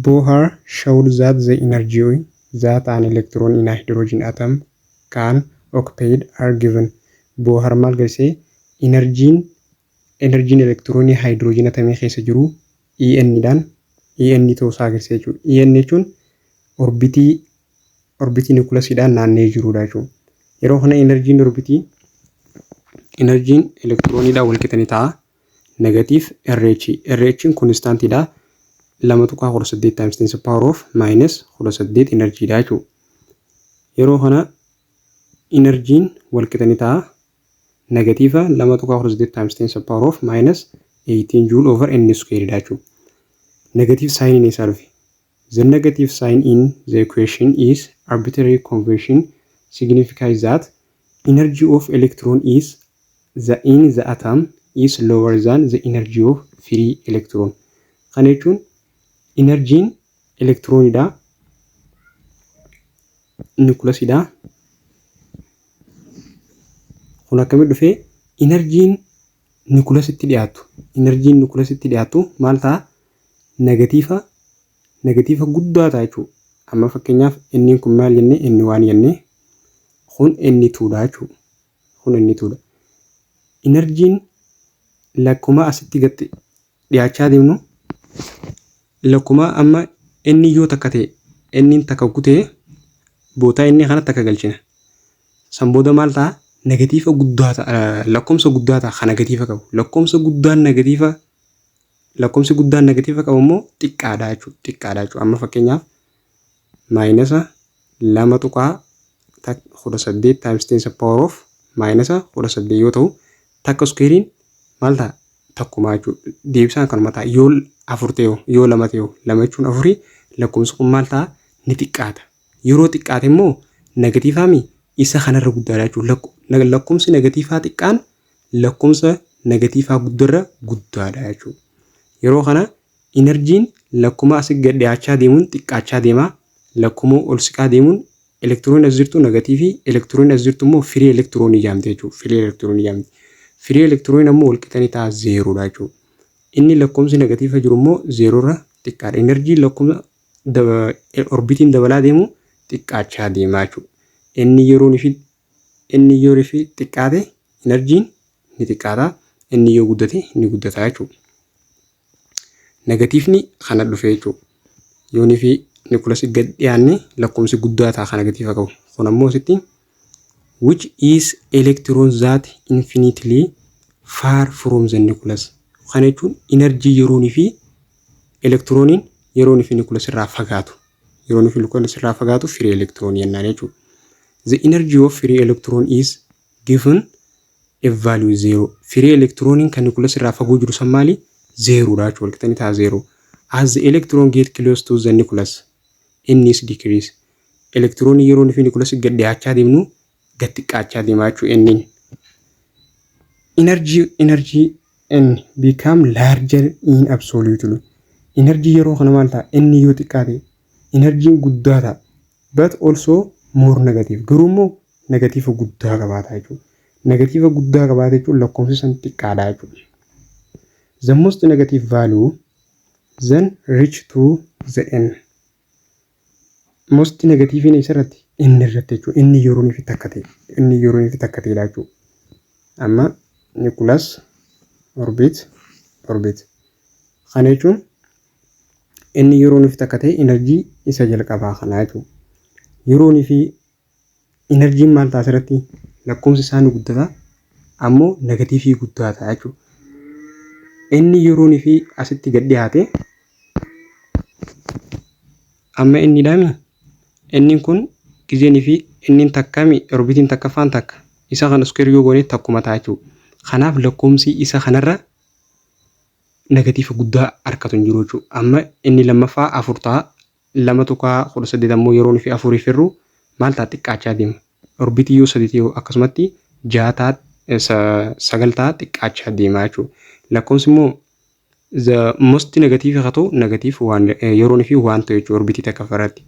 Bohr showed that the energy that an electron in a hydrogen atom can occupy are given. Bohr maal garsiise? Inarjiin enerjiin elektiroonii haayidiroojin atamii keessa jiru En dhaan En ta'uu isaa agarsiisa jechuudha. En jechuun orbitii orbitii nikulasiidhaan naanna'ee jirudha jechuudha. Yeroo kana enerjiin orbitii enerjiin elektirooniidhaan walqixa ni ta'a. negative RH. RHn constant dha. 2.18 times 10 power of minus 18 energy dha jechuudha. Yeroo kana energy'n wal qixa ni ta'a. Negative 2.18 times 10 power of minus 18 joule over n square dha jechuudha. Negative sign isaa dhufe. The negative sign in the equation is arbitrary convention signifies that energy of electron is the in the atom is lower than the energy of free electron. Kana jechuun enerjiin elektiroonidha nukilasidha. Kun akkamitti dhufee enerjiin nukulasitti dhiyaatu inarjiin nukulasitti dhiyaatu maal ta'a negatiifa negatiifa guddaa ta'a jechuudha. Amma fakkeenyaaf inni kun maal jenne inni waan jenne kun inni tuudha jechuudha. Kun inni tuudha. Inarjiin lakkuma asitti gatte dhiyaachaa deemnu lakkuma amma inni yoo takka ta'e inni takka kutee bootaa inni kana takka galchina. San booda maal ta'a? Negatiifa guddaa ta'a lakkoomsa guddaa ta'a kan negatiifa qabu. Lakkoomsa guddaan negatiifa lakkoomsi guddaan negatiifa qabu immoo xiqqaadha jechuudha. Xiqqaadha jechuudha. Amma fakkeenyaaf maayinasa 2.18 times 10 the power of maayinasa 18 yoo ta'u takka iskuweeriin maal ta'a takkumaa jechuudha deebisaan kanuma ta'a yoo afur ta'e hoo yoo lama ta'e hoo lama jechuun afurii lakkoofsi kun maal ta'a ni xiqqaata yeroo xiqqaate immoo negatiivaa mi isa kanarra guddaadha jechuudha Lakko- nag- lakkoofsi negatiivaa xiqqaan lakkoofsa negatiivaa guddarra guddaadha jechuudha yeroo kana Inarjiin lakkuma asi gad dhiyaachaa deemuun xiqqaachaa deema, lakkuma ol siqaa deemuun elektiroonni as jirtu nagatiivii, elektiroonni as jirtu immoo firii elektiroonii jaamti jechuudha. Firii elektiroonii jaamti. Firii elektirooniin ammoo walqixanii ta'a zeeroodha jechuudha. Inni lakkoomsi nagatiifa jiru immoo zeeroorra xiqqaadha. Inarjii lakkuma orbitiin dabalaa deemu xiqqaachaa deemaa jechuudha. Inni yeroon ishii Inni yoo refi xiqqaate inarjiin ni xiqqaata. Inni yoo guddate ni guddata jechuudha. Negatiifni kana dhufe jechuudha. Yoo nifi nikulasi gad dhiyaanne lakkoomsi guddaa ta'a kan negatiifa qabu. Kun ammoo asitti which is electron that infinitely far from the nucleus. Kana jechuun inarjii yeroon fi elektirooniin yeroon fi nucleus irraa fagaatu. Yeroo nufi lukkoon asirraa fagaatu firii elektiroonii jennaan jechuudha. The energy of free electron is given a value zero. Firii elektirooniin kan nucleus irraa fagoo jiru san maali? Zeeroodha jechuudha. Walqixxanii ta'a zeeroo. As the electron get close to the nucleus, inni is decrease. Elektiroonii yeroo nufi nucleus gad dhiyaachaa deemnu gad xiqqaachaa deemaa jechuu enniin. Energy energy n become larger in absolutely. Energy yeroo kana maal ta'a? Inni yoo xiqqaate energy guddaa ta'a. But also more negative. Garuu immoo negatiiva guddaa qabaata jechuudha. Negatiiva guddaa qabaata jechuun lakkoofsi san xiqqaadha jechuudha. The most negative value then reach to the n. Most negatiiviin eessarratti? Inni irratti jechuudha. Inni yeroon fi takka ta'e. Inni yeroon fi takka ta'edha jechuudha. Amma Nicholas orbit orbit. Kana jechuun inni yeroon fi takka ta'e enerjii isa jalqabaa kanaa jechuudha. Yeroon fi Inarjiin maal ta'a asirratti lakkoofsi isaa ni guddata ammoo negatiivii guddaa ta'a jechuudha. Inni yeroon fi asitti gad dhiyaate amma inni dhaami inni kun gizeen fi inni takkami orbitiin takkaffaan takka isa kan iskeer yoo goone takkuma ta'a jechuudha. Kanaaf lakkoofsi isa kanarra negatiifa guddaa harkatu hin jiru jechuudha. Amma inni lammaffaa afur ta'a 2.18 ammoo yeroo nufi 4 firru maal ta'a xiqqaachaa deema. Orbitii yoo 3 ta'e akkasumatti 6 ta'a 9 ta'a xiqqaachaa deema jechuudha. Lakkoofsi immoo the most negative haa ta'u negative waan yeroo nufi waan ta'u jechuudha orbitii takka farratti.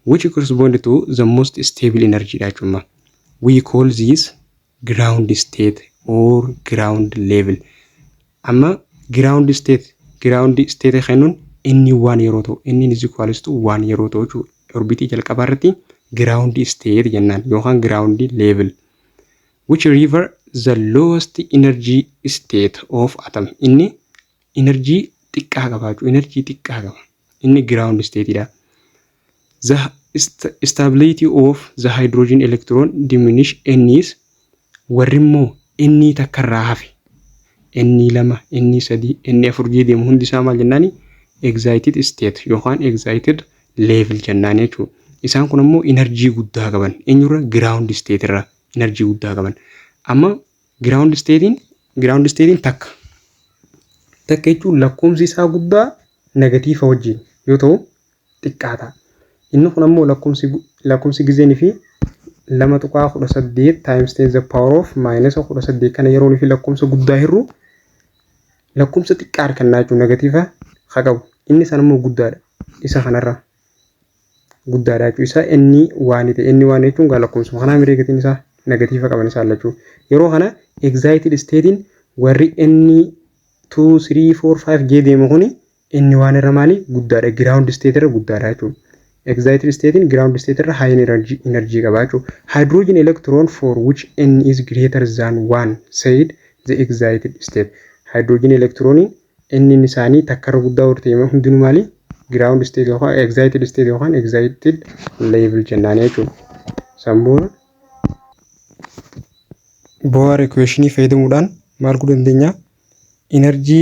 Which correspond to the most stable energy dha jechuudha. We call this ground state or ground level amma ground state ground state kennuun inni waan yeroo ta'u inni is equals to waan yeroo ta'u jechuudha orbitii jalqabaa irratti ground state jennaan yookaan ground level which river the lowest energy state of atom inni energy xiqqaa qabaachuu energy xiqqaa qaba inni ground state dha The stability of the hydrogen electron diminish n is warri immoo n takka irraa hafe n lama n sadii n afur jee deemu hundi isaa maal jennaani excited state yookaan excited level jennaani jechuudha. Isaan kun ammoo inarjii guddaa qaban eenyurra ground state irra inarjii guddaa qaban. Amma ground statein ground statein takka takka jechuun lakkoomsi isaa guddaa negatiifa wajjin yoo ta'u xiqqaata. Inni kun ammoo lakkoofsi lakkoofsi gizeen fi 2.18 times 10 the power of minus 18 kana yeroon fi lakkoofsa guddaa hirru lakkoofsa xiqqaa argannaa jechuun negatiiva haa qabu. Inni san ammoo guddaadha. Isa kanarra guddaadha jechuun isaa inni waan ta'e inni waan jechuun gaa lakkoofsuma kanaa miree gatiin isaa negatiiva qaban isaa lachuu. Yeroo kana excited statein warri inni 2, 3, 4, 5 jee deemu kuni Inni waan irra maalii guddaadha ground state irra guddaadha jechuudha. Excited state'n ground state irra high energy energy qaba jechuudha. Hydrogen electron for which n is greater than 1 said the excited state. Hydrogen electron n inni isaanii takka irra guddaa yoo ta'e hundinuu maalii ground state yookaan excited state yookaan excited level jennaan jechuudha. Sammuun Bohr equation fayyadamuudhaan maal godhuu dandeenya? Energy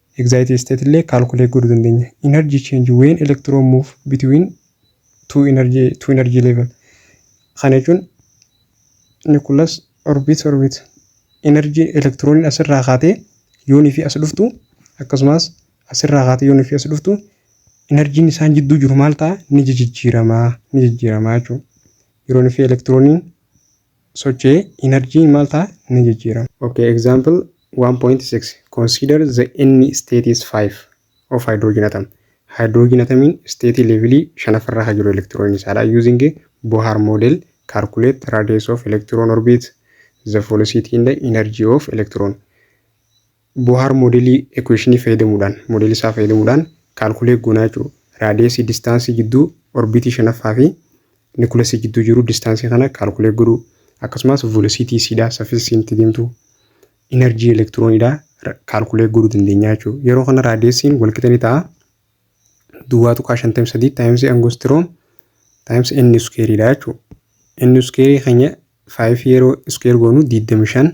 Excited state illee calculate godhuu dandeenya. Energy change when electron move between two energy, two energy level. Kana jechuun nucleus orbit orbit energy elektirooniin asirraa kaatee yoonii fi as dhuftu akkasumas asirraa kaatee yoonii fi as dhuftu enerjiin isaan jidduu jiru maal ta'a ni jijjiiramaa ni jijjiiramaa jechuudha. Yeroon fi elektirooniin socho'ee inarjiin maal ta'a? Ni jijjiirama. Ok, example 1.6 Consider the N state is 5 of hydrogen atom. Hydrogen atomiin state level 5ffaa irra kan jiru electron isaa dha. Using a Bohr model, calculate radius of electron orbit, the velocity and energy of electron. Bohaar moodelii ekuweeshinii fayyadamuudhaan, moodelii isaa fayyadamuudhaan kaalkuleet goonaa jechuudha. Raadiyeesii distaansii jidduu orbiitii shanaffaa fi nikulasii jidduu jiru distaansii kana kaalkuleet godhuu akkasumas voolosiitii isiidhaa saffisa isiin itti deemtu inarjii elektirooniidhaa kaalkuleet godhuu dandeenya jechuudha. Yeroo kana raadiyeesiin walqixa ni ta'a. Duwwaa tuqaa shantamii sadii taayimsii angostiroom taayimsii inni iskeeriidha jechuudha. Inni iskeerii keenya faayif yeroo iskeer goonu digdamii shan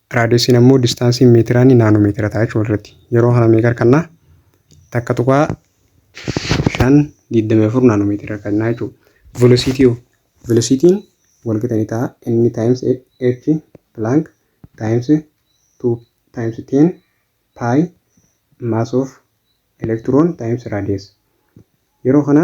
Raadiyesiin ammoo distaansiin meetiraanii naanoo meetira ta'a jechuudha walirratti. Yeroo kana meeqa harkannaa? Takka tuqaa shan digdamii afur naanoo meetira harkannaa jechuudha. Velocity hoo? Velocity'n walqixa ni ta'a n times h plank times 2 times 10 pi mass of electron times radius. Yeroo kana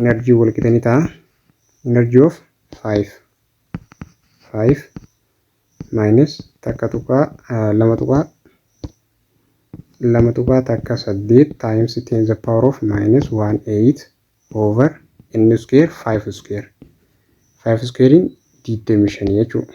energy wal qixa ni ta'a energy of 5 5 minus takka tuqaa lama tuqaa lama tuqaa takka saddeet times ten the power of minus one eight over n square five square five squarein digdamii shanii jechuudha.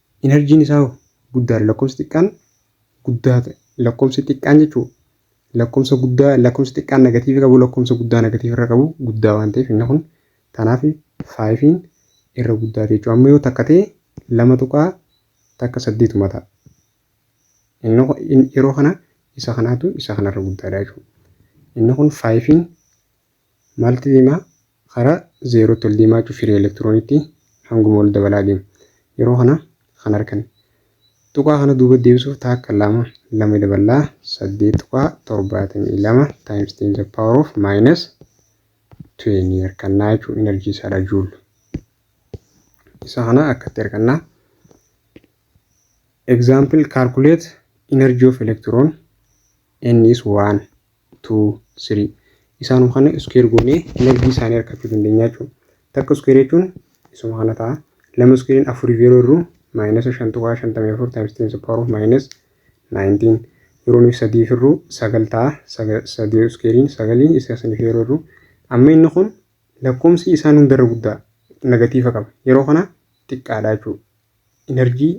Inarjiin isaa hoo? Guddaadha. Lakkoofsi xiqqaan guddaa ta'e. Lakkoofsi xiqqaan jechuun lakkoofsa guddaa lakkoofsi xiqqaan negatiivii qabu lakkoofsa guddaa negatiivii irra qabu guddaa waan ta'eef inni kun kanaaf faayifiin irra guddaa ta'e jechuudha. Amma yoo takka ta'e lama tuqaa takka saddeetuma ta'a. Inni kun- in- yeroo kana isa kanaatu isa kanarra guddaadha jechuudha. Inni kun faayifiin Maalti deemaa? Karaa zeerootti ol deemaa jechuun firee elektirooniitti hanguma ol dabalaa deemu. Yeroo kana kan arkan. Tuqaa kana duuba deebisuuf taakka lama lama daballaa saddeet tuqaa torbaatamii lama times ten the power of minus twenty harkannaa jechuun enerjii isaadha juul. Isa kana akkatti harkannaa. Example calculate energy of electron N is 1, 2, 3. Isaanuma kana iskuweer goonee enerjii isaanii argachuu dandeenya jechuudha. Takka iskuweer jechuun isuma kana ta'a. Lama iskuweeriin afuriif yeroo irru maayinasa shan tuqaa shantamii afur taayims teen saphaaruu maayinas naayintiin. Yeroo nuyi sadiif irru sagal ta'a. Sadii iskuweeriin sagalii isa saniif yeroo irru. Amma inni kun lakkoomsi isaan hundarra guddaa negatiifa qaba. Yeroo kana xiqqaadha jechuudha. Enerjii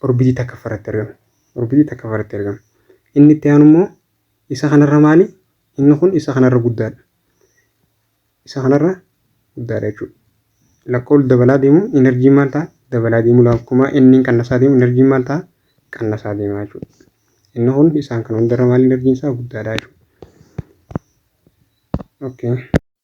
orbitii takkaffaa irratti argama. Orbitii takkaffaa irratti argama. Inni itti aanu immoo isa kanarra maali? Inni kun isa kanarra guddaadha. Isa kanarra guddaadha jechuudha. Lakkoofsi dabalaa deemu inarjiin maal ta'a? Dabalaa deemu lakkuma inniin qannasaa deemu inarjiin maal ta'a? Qannasaa deema jechuudha. Inni kun isaan kana hundarra maali inarjiin isaa guddaadha jechuudha. Okay.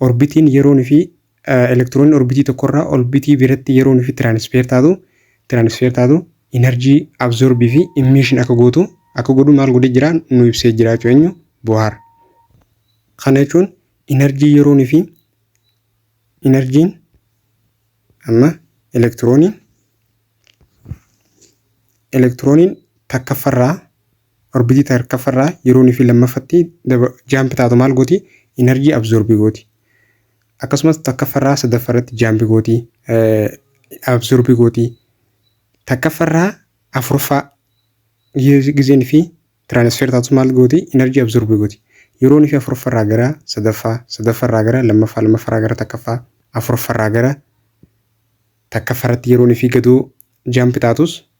Orbitiin yeroon fi elektiroonni orbitii tokkorraa orbitii biratti yeroon fi tiraanisfeer taatu tiraanisfeer taatu inarjii absorbii fi immiishin akka gootu akka godhu maal godhee jira nu ibsee jira jechuudha eenyu bohaar. Kana jechuun inarjii yeroon fi inarjiin amma elektirooniin elektirooniin takkaffarraa Orbitii ta hirkaffa irraa yeroo inni fi lammaffatti daba jump taatu maal gooti? Energy absorb gooti. Akkasumas takkaffa irraa sadaffa irratti jump gooti. eh, absorb gooti. Takkaffa irraa afurffaa gi- gizeen fi transfer taatu maal gooti? Energy absorb gooti. Yeroo inni fi afurffa irraa gara sadaffaa, sadaffa irraa gara lammaffaa, lammaffaa irraa gara takkaffaa, afurffa irraa gara takkaffaa irratti yeroo inni fi gadoo jump taatus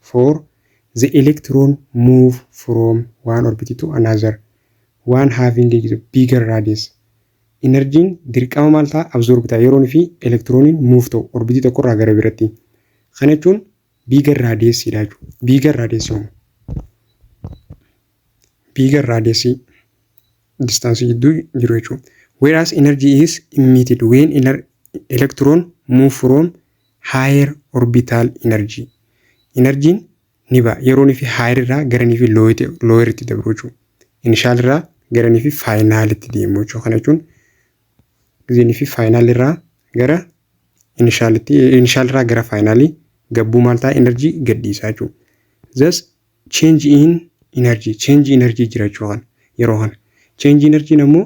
for the electron move from one orbit to another one having a bigger radius Inarjiin dirqama maal ta'a absorb ta'a yeroon fi elektirooniin move ta'u orbitii tokko irraa gara biratti kana jechuun bigger radius dha jechuudha bigger radius homo Bigger radius distance jidduu jiru jechuudha. Whereas energy is emitted when ener- electron move from higher orbital energy. Energy'n ni ba'a. Yeroon fi higher irraa garanii fi lower itti dabru jechuudha. Initial irraa garanii fi final itti deemu jechuudha. Kana jechuun gizeenii fi final irraa gara initial itti initial irraa gara final gabbuu maal ta'a energy gadhiisaa jechuudha. Thus change in energy change energy jira jechuu kana yeroo kana change energy ammoo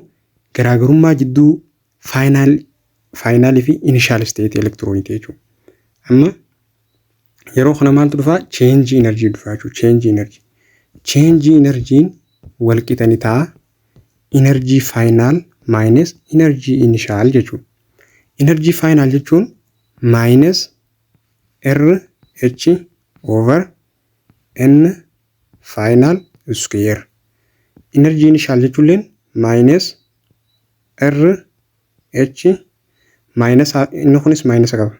garaagarummaa jidduu final final fi initial state elektirooniiti jechuudha. Amma yeroo kana maaltu dhufaa change energy dhufaa jechuudha change energy change energy wal qixa ni ta'a energy final minus energy initial jechuudha. Energy final jechuun minus RH over n final square energy initial jechuulleen minus r h minus inni kunis minus qaba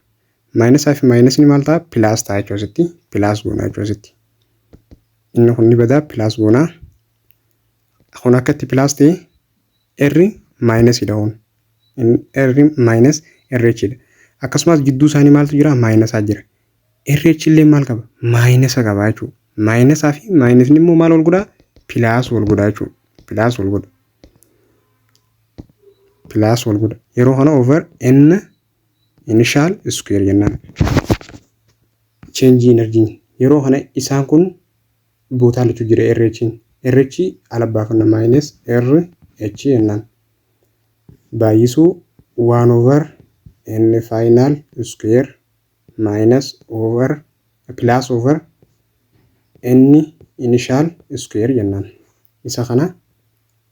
minus fi minus ni maal ta'a plus ta'a jechuudha asitti plus goona jechuudha asitti inni kun ni badaa plus goona kun akkatti plus ta'e r minus dha kun r minus rh dha akkasumas jidduu isaanii maaltu jira minus jira RH illee maal qaba? Maayinasa qaba jechuudha. Maayinasaa fi maayinasni immoo maal wal godhaa? Pilaas wal godhaa jechuudha. Pilaas wal godha. Pilaas wal godha. Yeroo kana over n initial square jennaan. Cheenjii enerjii. Yeroo kana isaan kun bootaa lachuu jira RH'n. RH ala baafanna maayinas RH jennaan. Baay'isuu waan over n faayinaal square minus over plus over n initial square jennaan isa kana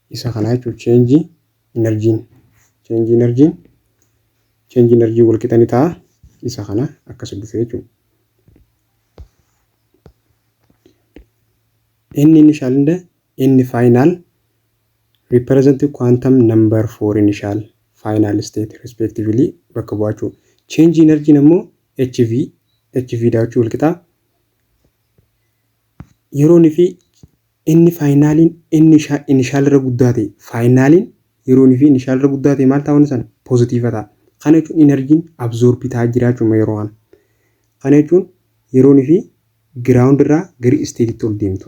isa kana jechuun change energy change energy change energy wal qixa ni ta'a isa kana akkas dhufee jechuudha. Inni initial hunda inni final Represent quantum number for initial, final state respectively bakka bu'achuu. Change energy ammoo HV, HV daawachuu walqixaa yeroon fi inni faayinaaliin inni inishaal irra guddaa ta'e faayinaaliin yeroon fi inishaal irra guddaa ta'e maal ta'a wanni sana poozitiiva ta'a. Kana jechuun inarjiin abzoorbii ta'a jiraachuma yeroo kana. Kana jechuun yeroon fi giraawundi irraa gara isteetitti ol deemtu.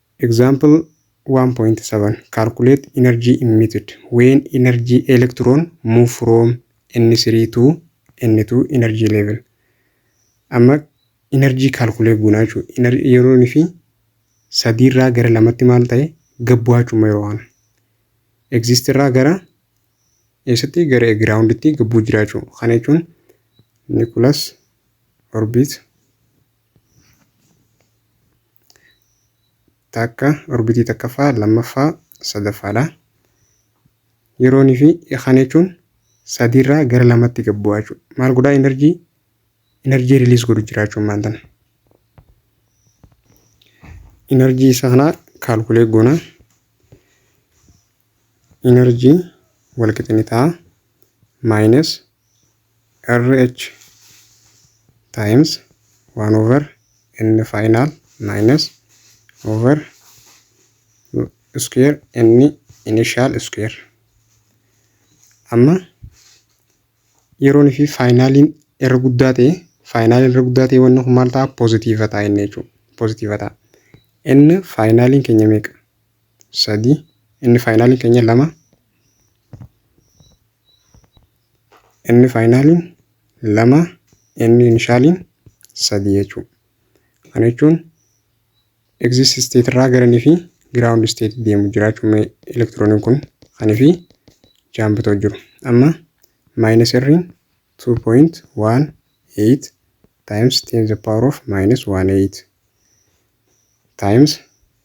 Example 1.7 Calculate energy emitted when energy electron move from N3 to N2 energy level. Amma energy calculate goona jechuudha. Yeroon fi sadii irraa gara lamatti maal ta'e gad bu'aa jechuudha yeroo kana. Exist irraa gara eessatti gara groundtti gad bu'u jira jechuudha. Kana jechuun nucleus orbit takka orbitii takkaffaa lammaffaa sadaffaadha. Yeroon fi kana jechuun sadiirraa gara lamatti gad bu'aa jechuudha. Maal godhaa enerjii enerjii riliis godhu jira jechuun maal tana. Enerjii isa kanaa kaalkulee goona. Enerjii walqixni ta'a maayinas RH times 1 over n final minus over square n initial square. Amma yeroon fi faayinaaliin irra guddaa ta'e faayinaaliin irra guddaa ta'e wanni kun maal ta'a poozitiiva ta'a inni jechuudha. Poozitiiva ta'a. Inni faayinaaliin keenya meeqa? Sadii. Inni faayinaaliin keenya lama. n faayinaaliin lama n inishaaliin sadii jechuudha. Kana jechuun egzist isteet irraa gara n fi giraawundi isteet deemu jira jechuudha elektirooniin kun kan fi jaambitoo jiru. Amma maayinas irriin 2.18 times 10 the power of minus 18 times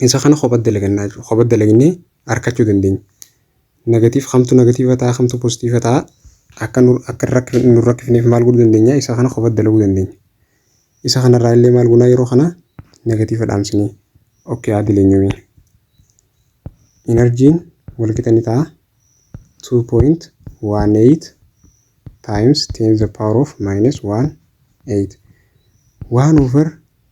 Isa kana kopha dalagannaa jechuudha. Kopha dalagnee arkachuu dandeenya. Negatiif kamtu negatiiva ta'a kamtu positiiva ta'a akka nu akka rakk- nu rakkifneef maal godhuu dandeenya isa kana kopha dalaguu dandeenya. Isa kanarraa illee maal gunaa yeroo kana negatiiva dhaamsinee okkee haa dileenyuumee. Inarjiin walqixa ni ta'a 2.18 times 10 the power of minus 1 8 1 over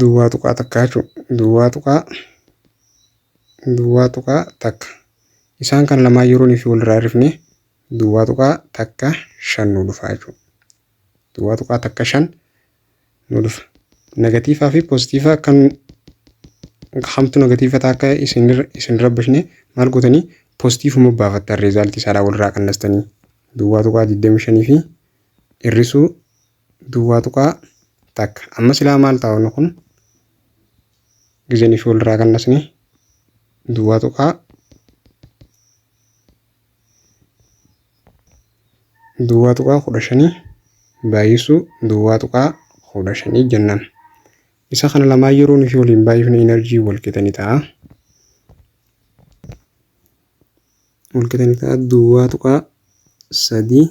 duwwaa tuqaa takkaa jechuudha duwwaa tuqaa duwwaa tuqaa takka isaan kan lamaan yeroon fi walirraa hirrifne duwwaa tuqaa takka shan nu dhufa jechuudha duwwaa tuqaa takka shan nu dhufa negatiivaa fi poozitiivaa kan hamtu negatiiva ta'a akka isin rabbishne maal gootanii poozitiivuma baafattan reezaaltii isaadhaa walirraa qannastanii duwwaa tuqaa 25 fi hir'isuu duwwaa tuqaa takka amma silaa maal ta'a wanni kun gizeen ishii walirraa kannasne duwwaa tuqaa duwwaa tuqaa kudha shanii baay'isuu duwwaa tuqaa kudha shanii jennaan isa kana lamaa yeroo nuti waliin baay'ifne inarjii walqixa ni ta'a walqixa ni ta'a duwwaa tuqaa sadii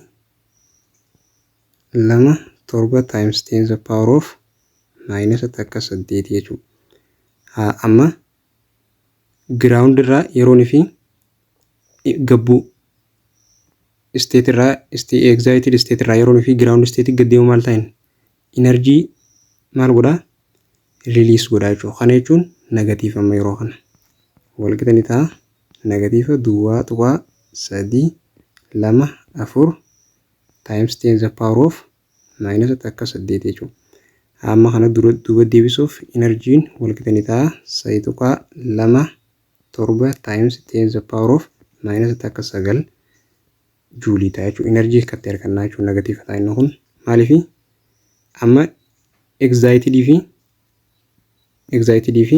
2 7 times 10 the power of maayinasa takka 8 jechuu haa amma giraawundi irraa yeroon fi gabbuu isteet irraa egzaayitid isteet irraa yeroon fi giraawundi isteetii gaddeemu maal ta'in inarjii maal godhaa riliis godhaa jechuudha kana jechuun negatiif amma yeroo kana walqixa ni ta'a negatiifa duwwaa tuqaa sadii lama afur times 10 the power of minus takka 8 jechuudha. Hamma kana dura duuba deebisuuf enerjiin walqixa ni ta'a. 3.2 7 times 10 the power of minus takka 9 juulii ta'a jechuudha. Enerjii akkatti argannaa jechuudha negatiiva ta'a inni kun. Maaliif amma egzaayitidii fi egzaayitidii fi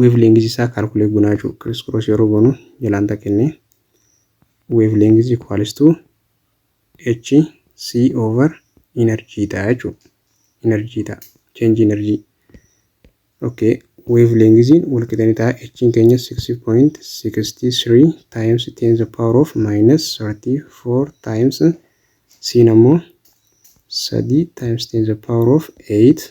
Weevleengizii isaa kaalkuleet gonaa jechuudha. Kiriis kiroos yeroo goonu jalaan takkenne weevleengizii kwaalistuu H C over inarjii ta'a jechuudha. Inarjii ta'a. Cheenji inarjii. Okay. Weevleengiziin walqixani ta'a. H'n keenya 6.63 times 10 the power of minus 34 times C'n ammoo 3 times 10 the power of 8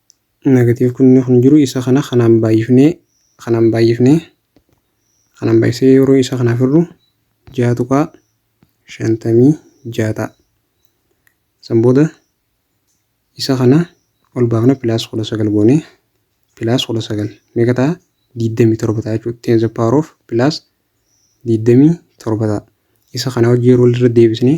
Negative kunni kun jiru isa kana kanaan baay'ifnee kanaan baay'ifnee kanaan baay'isee yeroo isa kana firru ja'a tuqaa shantamii ja'a ta'a. San booda isa kana ol baafna pilaas kudha sagal goone pilaas kudha sagal meeqa ta'a digdamii torba ta'a jechuudha. Ten the power of pilaas digdamii torba ta'a. Isa kana hojii yeroo irra deebisnee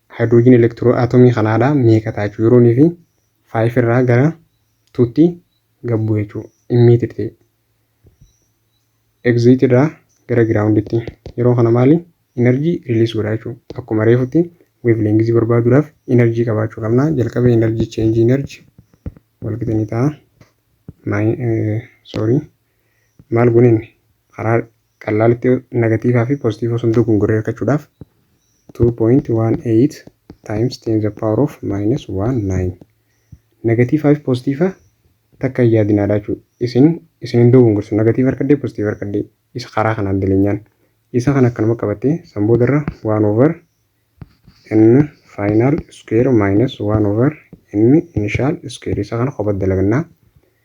Haayidiroojiin elektiroo atomii kanaa dha meeqa ta'a jechuu yeroon fi 5 irraa gara 2 tti gabbu jechuu immiitir ta'e egziit irraa gara giraawunditti yeroo kana maali energy release godha jechuu akkuma reefutti wave length barbaaduudhaaf energy qabaachuu qabna jalqaba energy change energy walqixa ni ta'a sorry maal gooneen karaa Qallaalitti negatiivaa fi pozitiivoo sun dogongoree argachuudhaaf 2.18 times 10 the power of minus 1 9 negatiivaa fi pozitiivaa takka hin yaadinaadha jechuudha. Isin isin hin dogongorsu negatiiva argadhee pozitiiva argadhee isa karaa kanaan daleenyaan isa kan akkanuma qabattee san boodarra 1 over n final square minus 1 over n initial square isa kana kopha dalagannaa.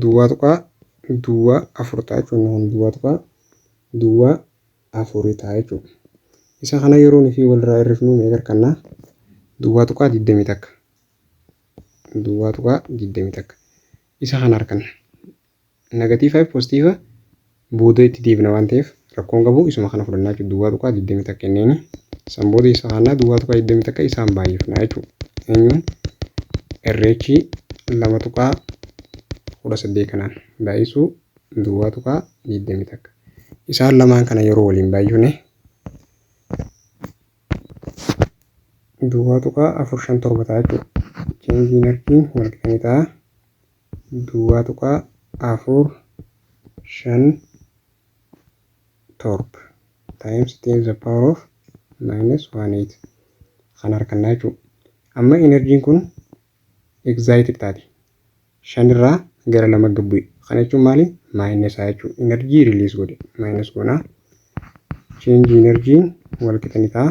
Duwwaa tuqaa duwwaa afur ta'a jechuudha. Inni kun duwwaa tuqaa duwwaa afuri ta'a jechuudha. Isa kana yeroo nufi walirraa hir'ifnu meeqa arganna? Duwwaa tuqaa digdamii takka. Duwwaa tuqaa digdamii takka. Isa kana arganna. Negatiifa fi pozitiiva booda itti deebina waan ta'eef rakkoo hin qabu isuma kana fudhannaa jechuudha duwwaa tuqaa 20 takka inniini san booda isa kaannaa duwwaa tuqaa 20 takka isaan baay'ifnaa jechuudha eenyuun irreechi lama tuqaa 18 kanaan baay'isuu duwwaa tuqaa 20 takka isaan lamaan kana yeroo waliin baay'ifne duwwaa tuqaa 457 ta'a jechuudha cheenjiin arkiin walqixanii ta'a. 2.45 torb times 10 the power of minus 1 8 kan harkannaa jechuudha. Amma enerjiin kun excited taate. shan irraa gara lama gad bu'e. Kana jechuun maali? Maayinesaa jechuudha. Enerjii riliis godhe. Maayinas goonaa. Cheenji enerjiin wal qixa ni ta'a.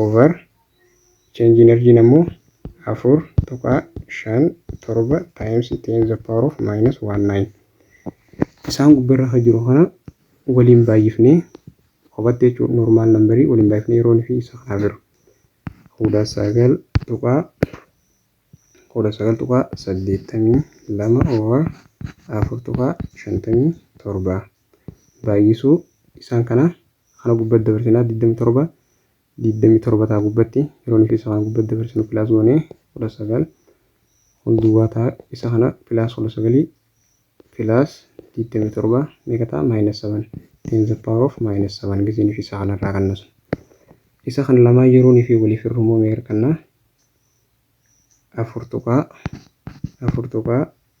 over change in argiin ammoo 4.57 times 10 to the power of minus 19 isaan gubbarra kan jiru kana waliin baay'ifnee kophaatti jechuun normaal nambarii waliin baay'ifnee yeroon fi isa kanaaf jiru kudha sagal tuqaa kudha sagal tuqaa saddeettamii lama over afur tuqaa shantamii torba. baay'isuu isaan kana kana gubbatti dabarsinaa 27 27 ta'a gubbatti yeroo nuti isa kana gubbatti dabarsinu pilaas goonee 19 kun duwwaa ta'a isa kana pilaas 19 pilaas 27 meeqa ta'a maayinus 7 10 the power of maayinus 7 gisee nuti isa kanarraa qannasu isa kan lamaa yeroo nuti waliif hirru immoo meeqa argannaa afur tuqaa afur tuqaa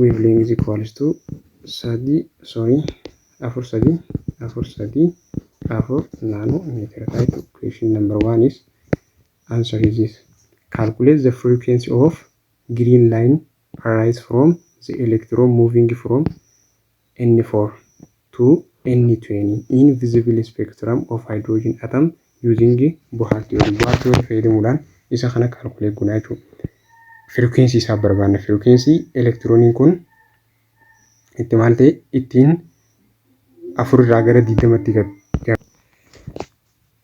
wavelength is equals to sadii sorry afur sadii afur sadii afur naanoo meetira ta'a jechuudha. Question number one is answer is this. Calculate the frequency of green line arise from the electron moving from N four to N twenty in visible spectrum of hydrogen atom using Bohr theory. Bohr theory fayyadamuudhaan isa kana calculate goona jechuudha. Frequency isaa barbaanna. Frequency elektirooniin kun itti maal ta'e ittiin afur irraa gara digdamatti gad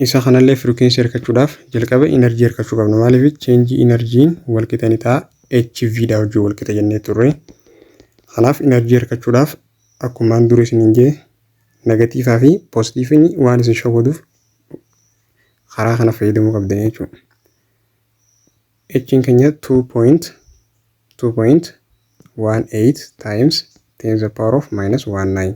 Isa kanallee frequency arkachuudhaaf jalqaba energy arkachuu qabna. Maaliif change energy'n walqixa ni ta'a HV dha wajjin walqixa jennee turre. Kanaaf energy arkachuudhaaf akkumaan dura isiniin jee negatiivaa fi poozitiiviin waan isin shawwaduuf karaa kana fayyadamuu qabdan jechuudha. H'n keenya 2.2.18 times 10 the power of minus 19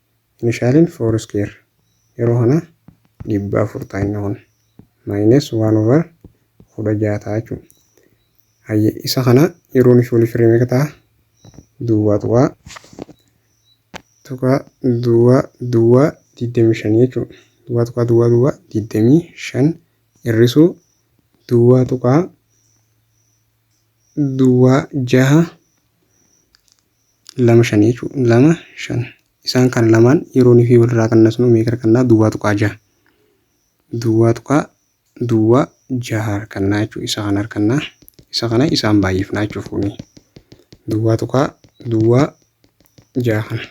Initialin foursquare yeroo kana dhibba afur ta'a inni kun minus one over kudha ja'a ta'a jechuudha. Hayye isa kana yeroo usually free meeqa ta'a? Duwwaa tuqaa tuqaa duwwaa duwwaa digdamii shan jechuudha. Duwwaa tuqaa duwwaa duwwaa digdamii shan hir'isuu duwwaa tuqaa duwwaa jaha lama shan jechuudha. lama shan isaan kan lamaan yeroo nuuf walirraa qannasnu meeqa argannaa duwwaa tuqaa jaha duwwaa tuqaa duwwaa jaha argannaa jechuudha isa kana argannaa isa kana isaan baay'ifnaa jechuudha fuunee duwwaa tuqaa duwwaa jaha kana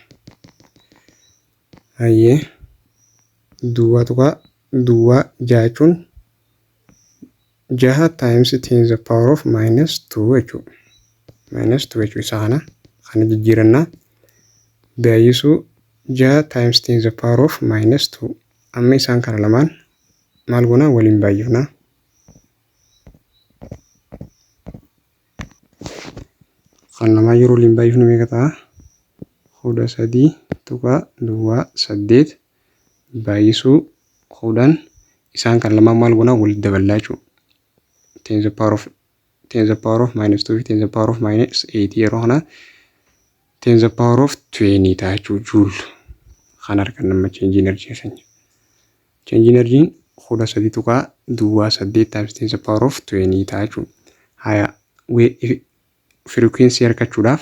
hayyee duwwaa tuqaa duwwaa jaha jechuun jaha times 10 the power of minus 2 jechuu minus 2 jechuu isa kana kana jijjiirannaa baay'isuu jaha times 10 the power of minus 2 amma isaan kana lamaan maal goonaa waliin baay'ifnaa kan lamaa yeroo waliin baay'ifnu meeqa ta'a kudha sadii tuqaa duwwaa saddeet baay'isuu quudhaan isaan kan lamaan maal goonaa walitti daballaa jechuudha. Tens the power of tens the power of minus 2 fi tens the power of minus 8 yeroo kana tens the power of 20 ta'a jechuudha juul kan argan nama change energy keenya. Change energy kudha sadii tuqaa duwwaa saddeet times tens the power of 20 ta'a jechuudha. Haya frequency argachuudhaaf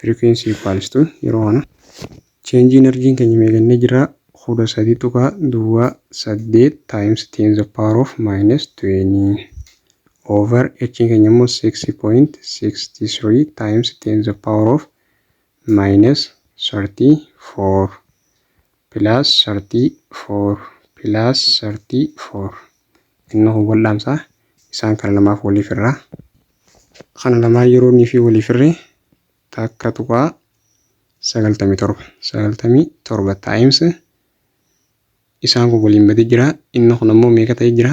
Frequency equals to yeroo kana change energy keenya meeqannee jira kudha sadii tuqaa duwwaa saddeet times ten the power of minus twenty over h keenya immoo six point sixty three times ten the power of minus thirty four plus 34 plus 34 innoo kun wal dhaamsa isaan kana lamaaf walii firraa kana lamaan yeroo inni fi walii firre takka tuqaa 97 97 times isaan kun waliin badee jira inni kun ammoo meeqa ta'ee jira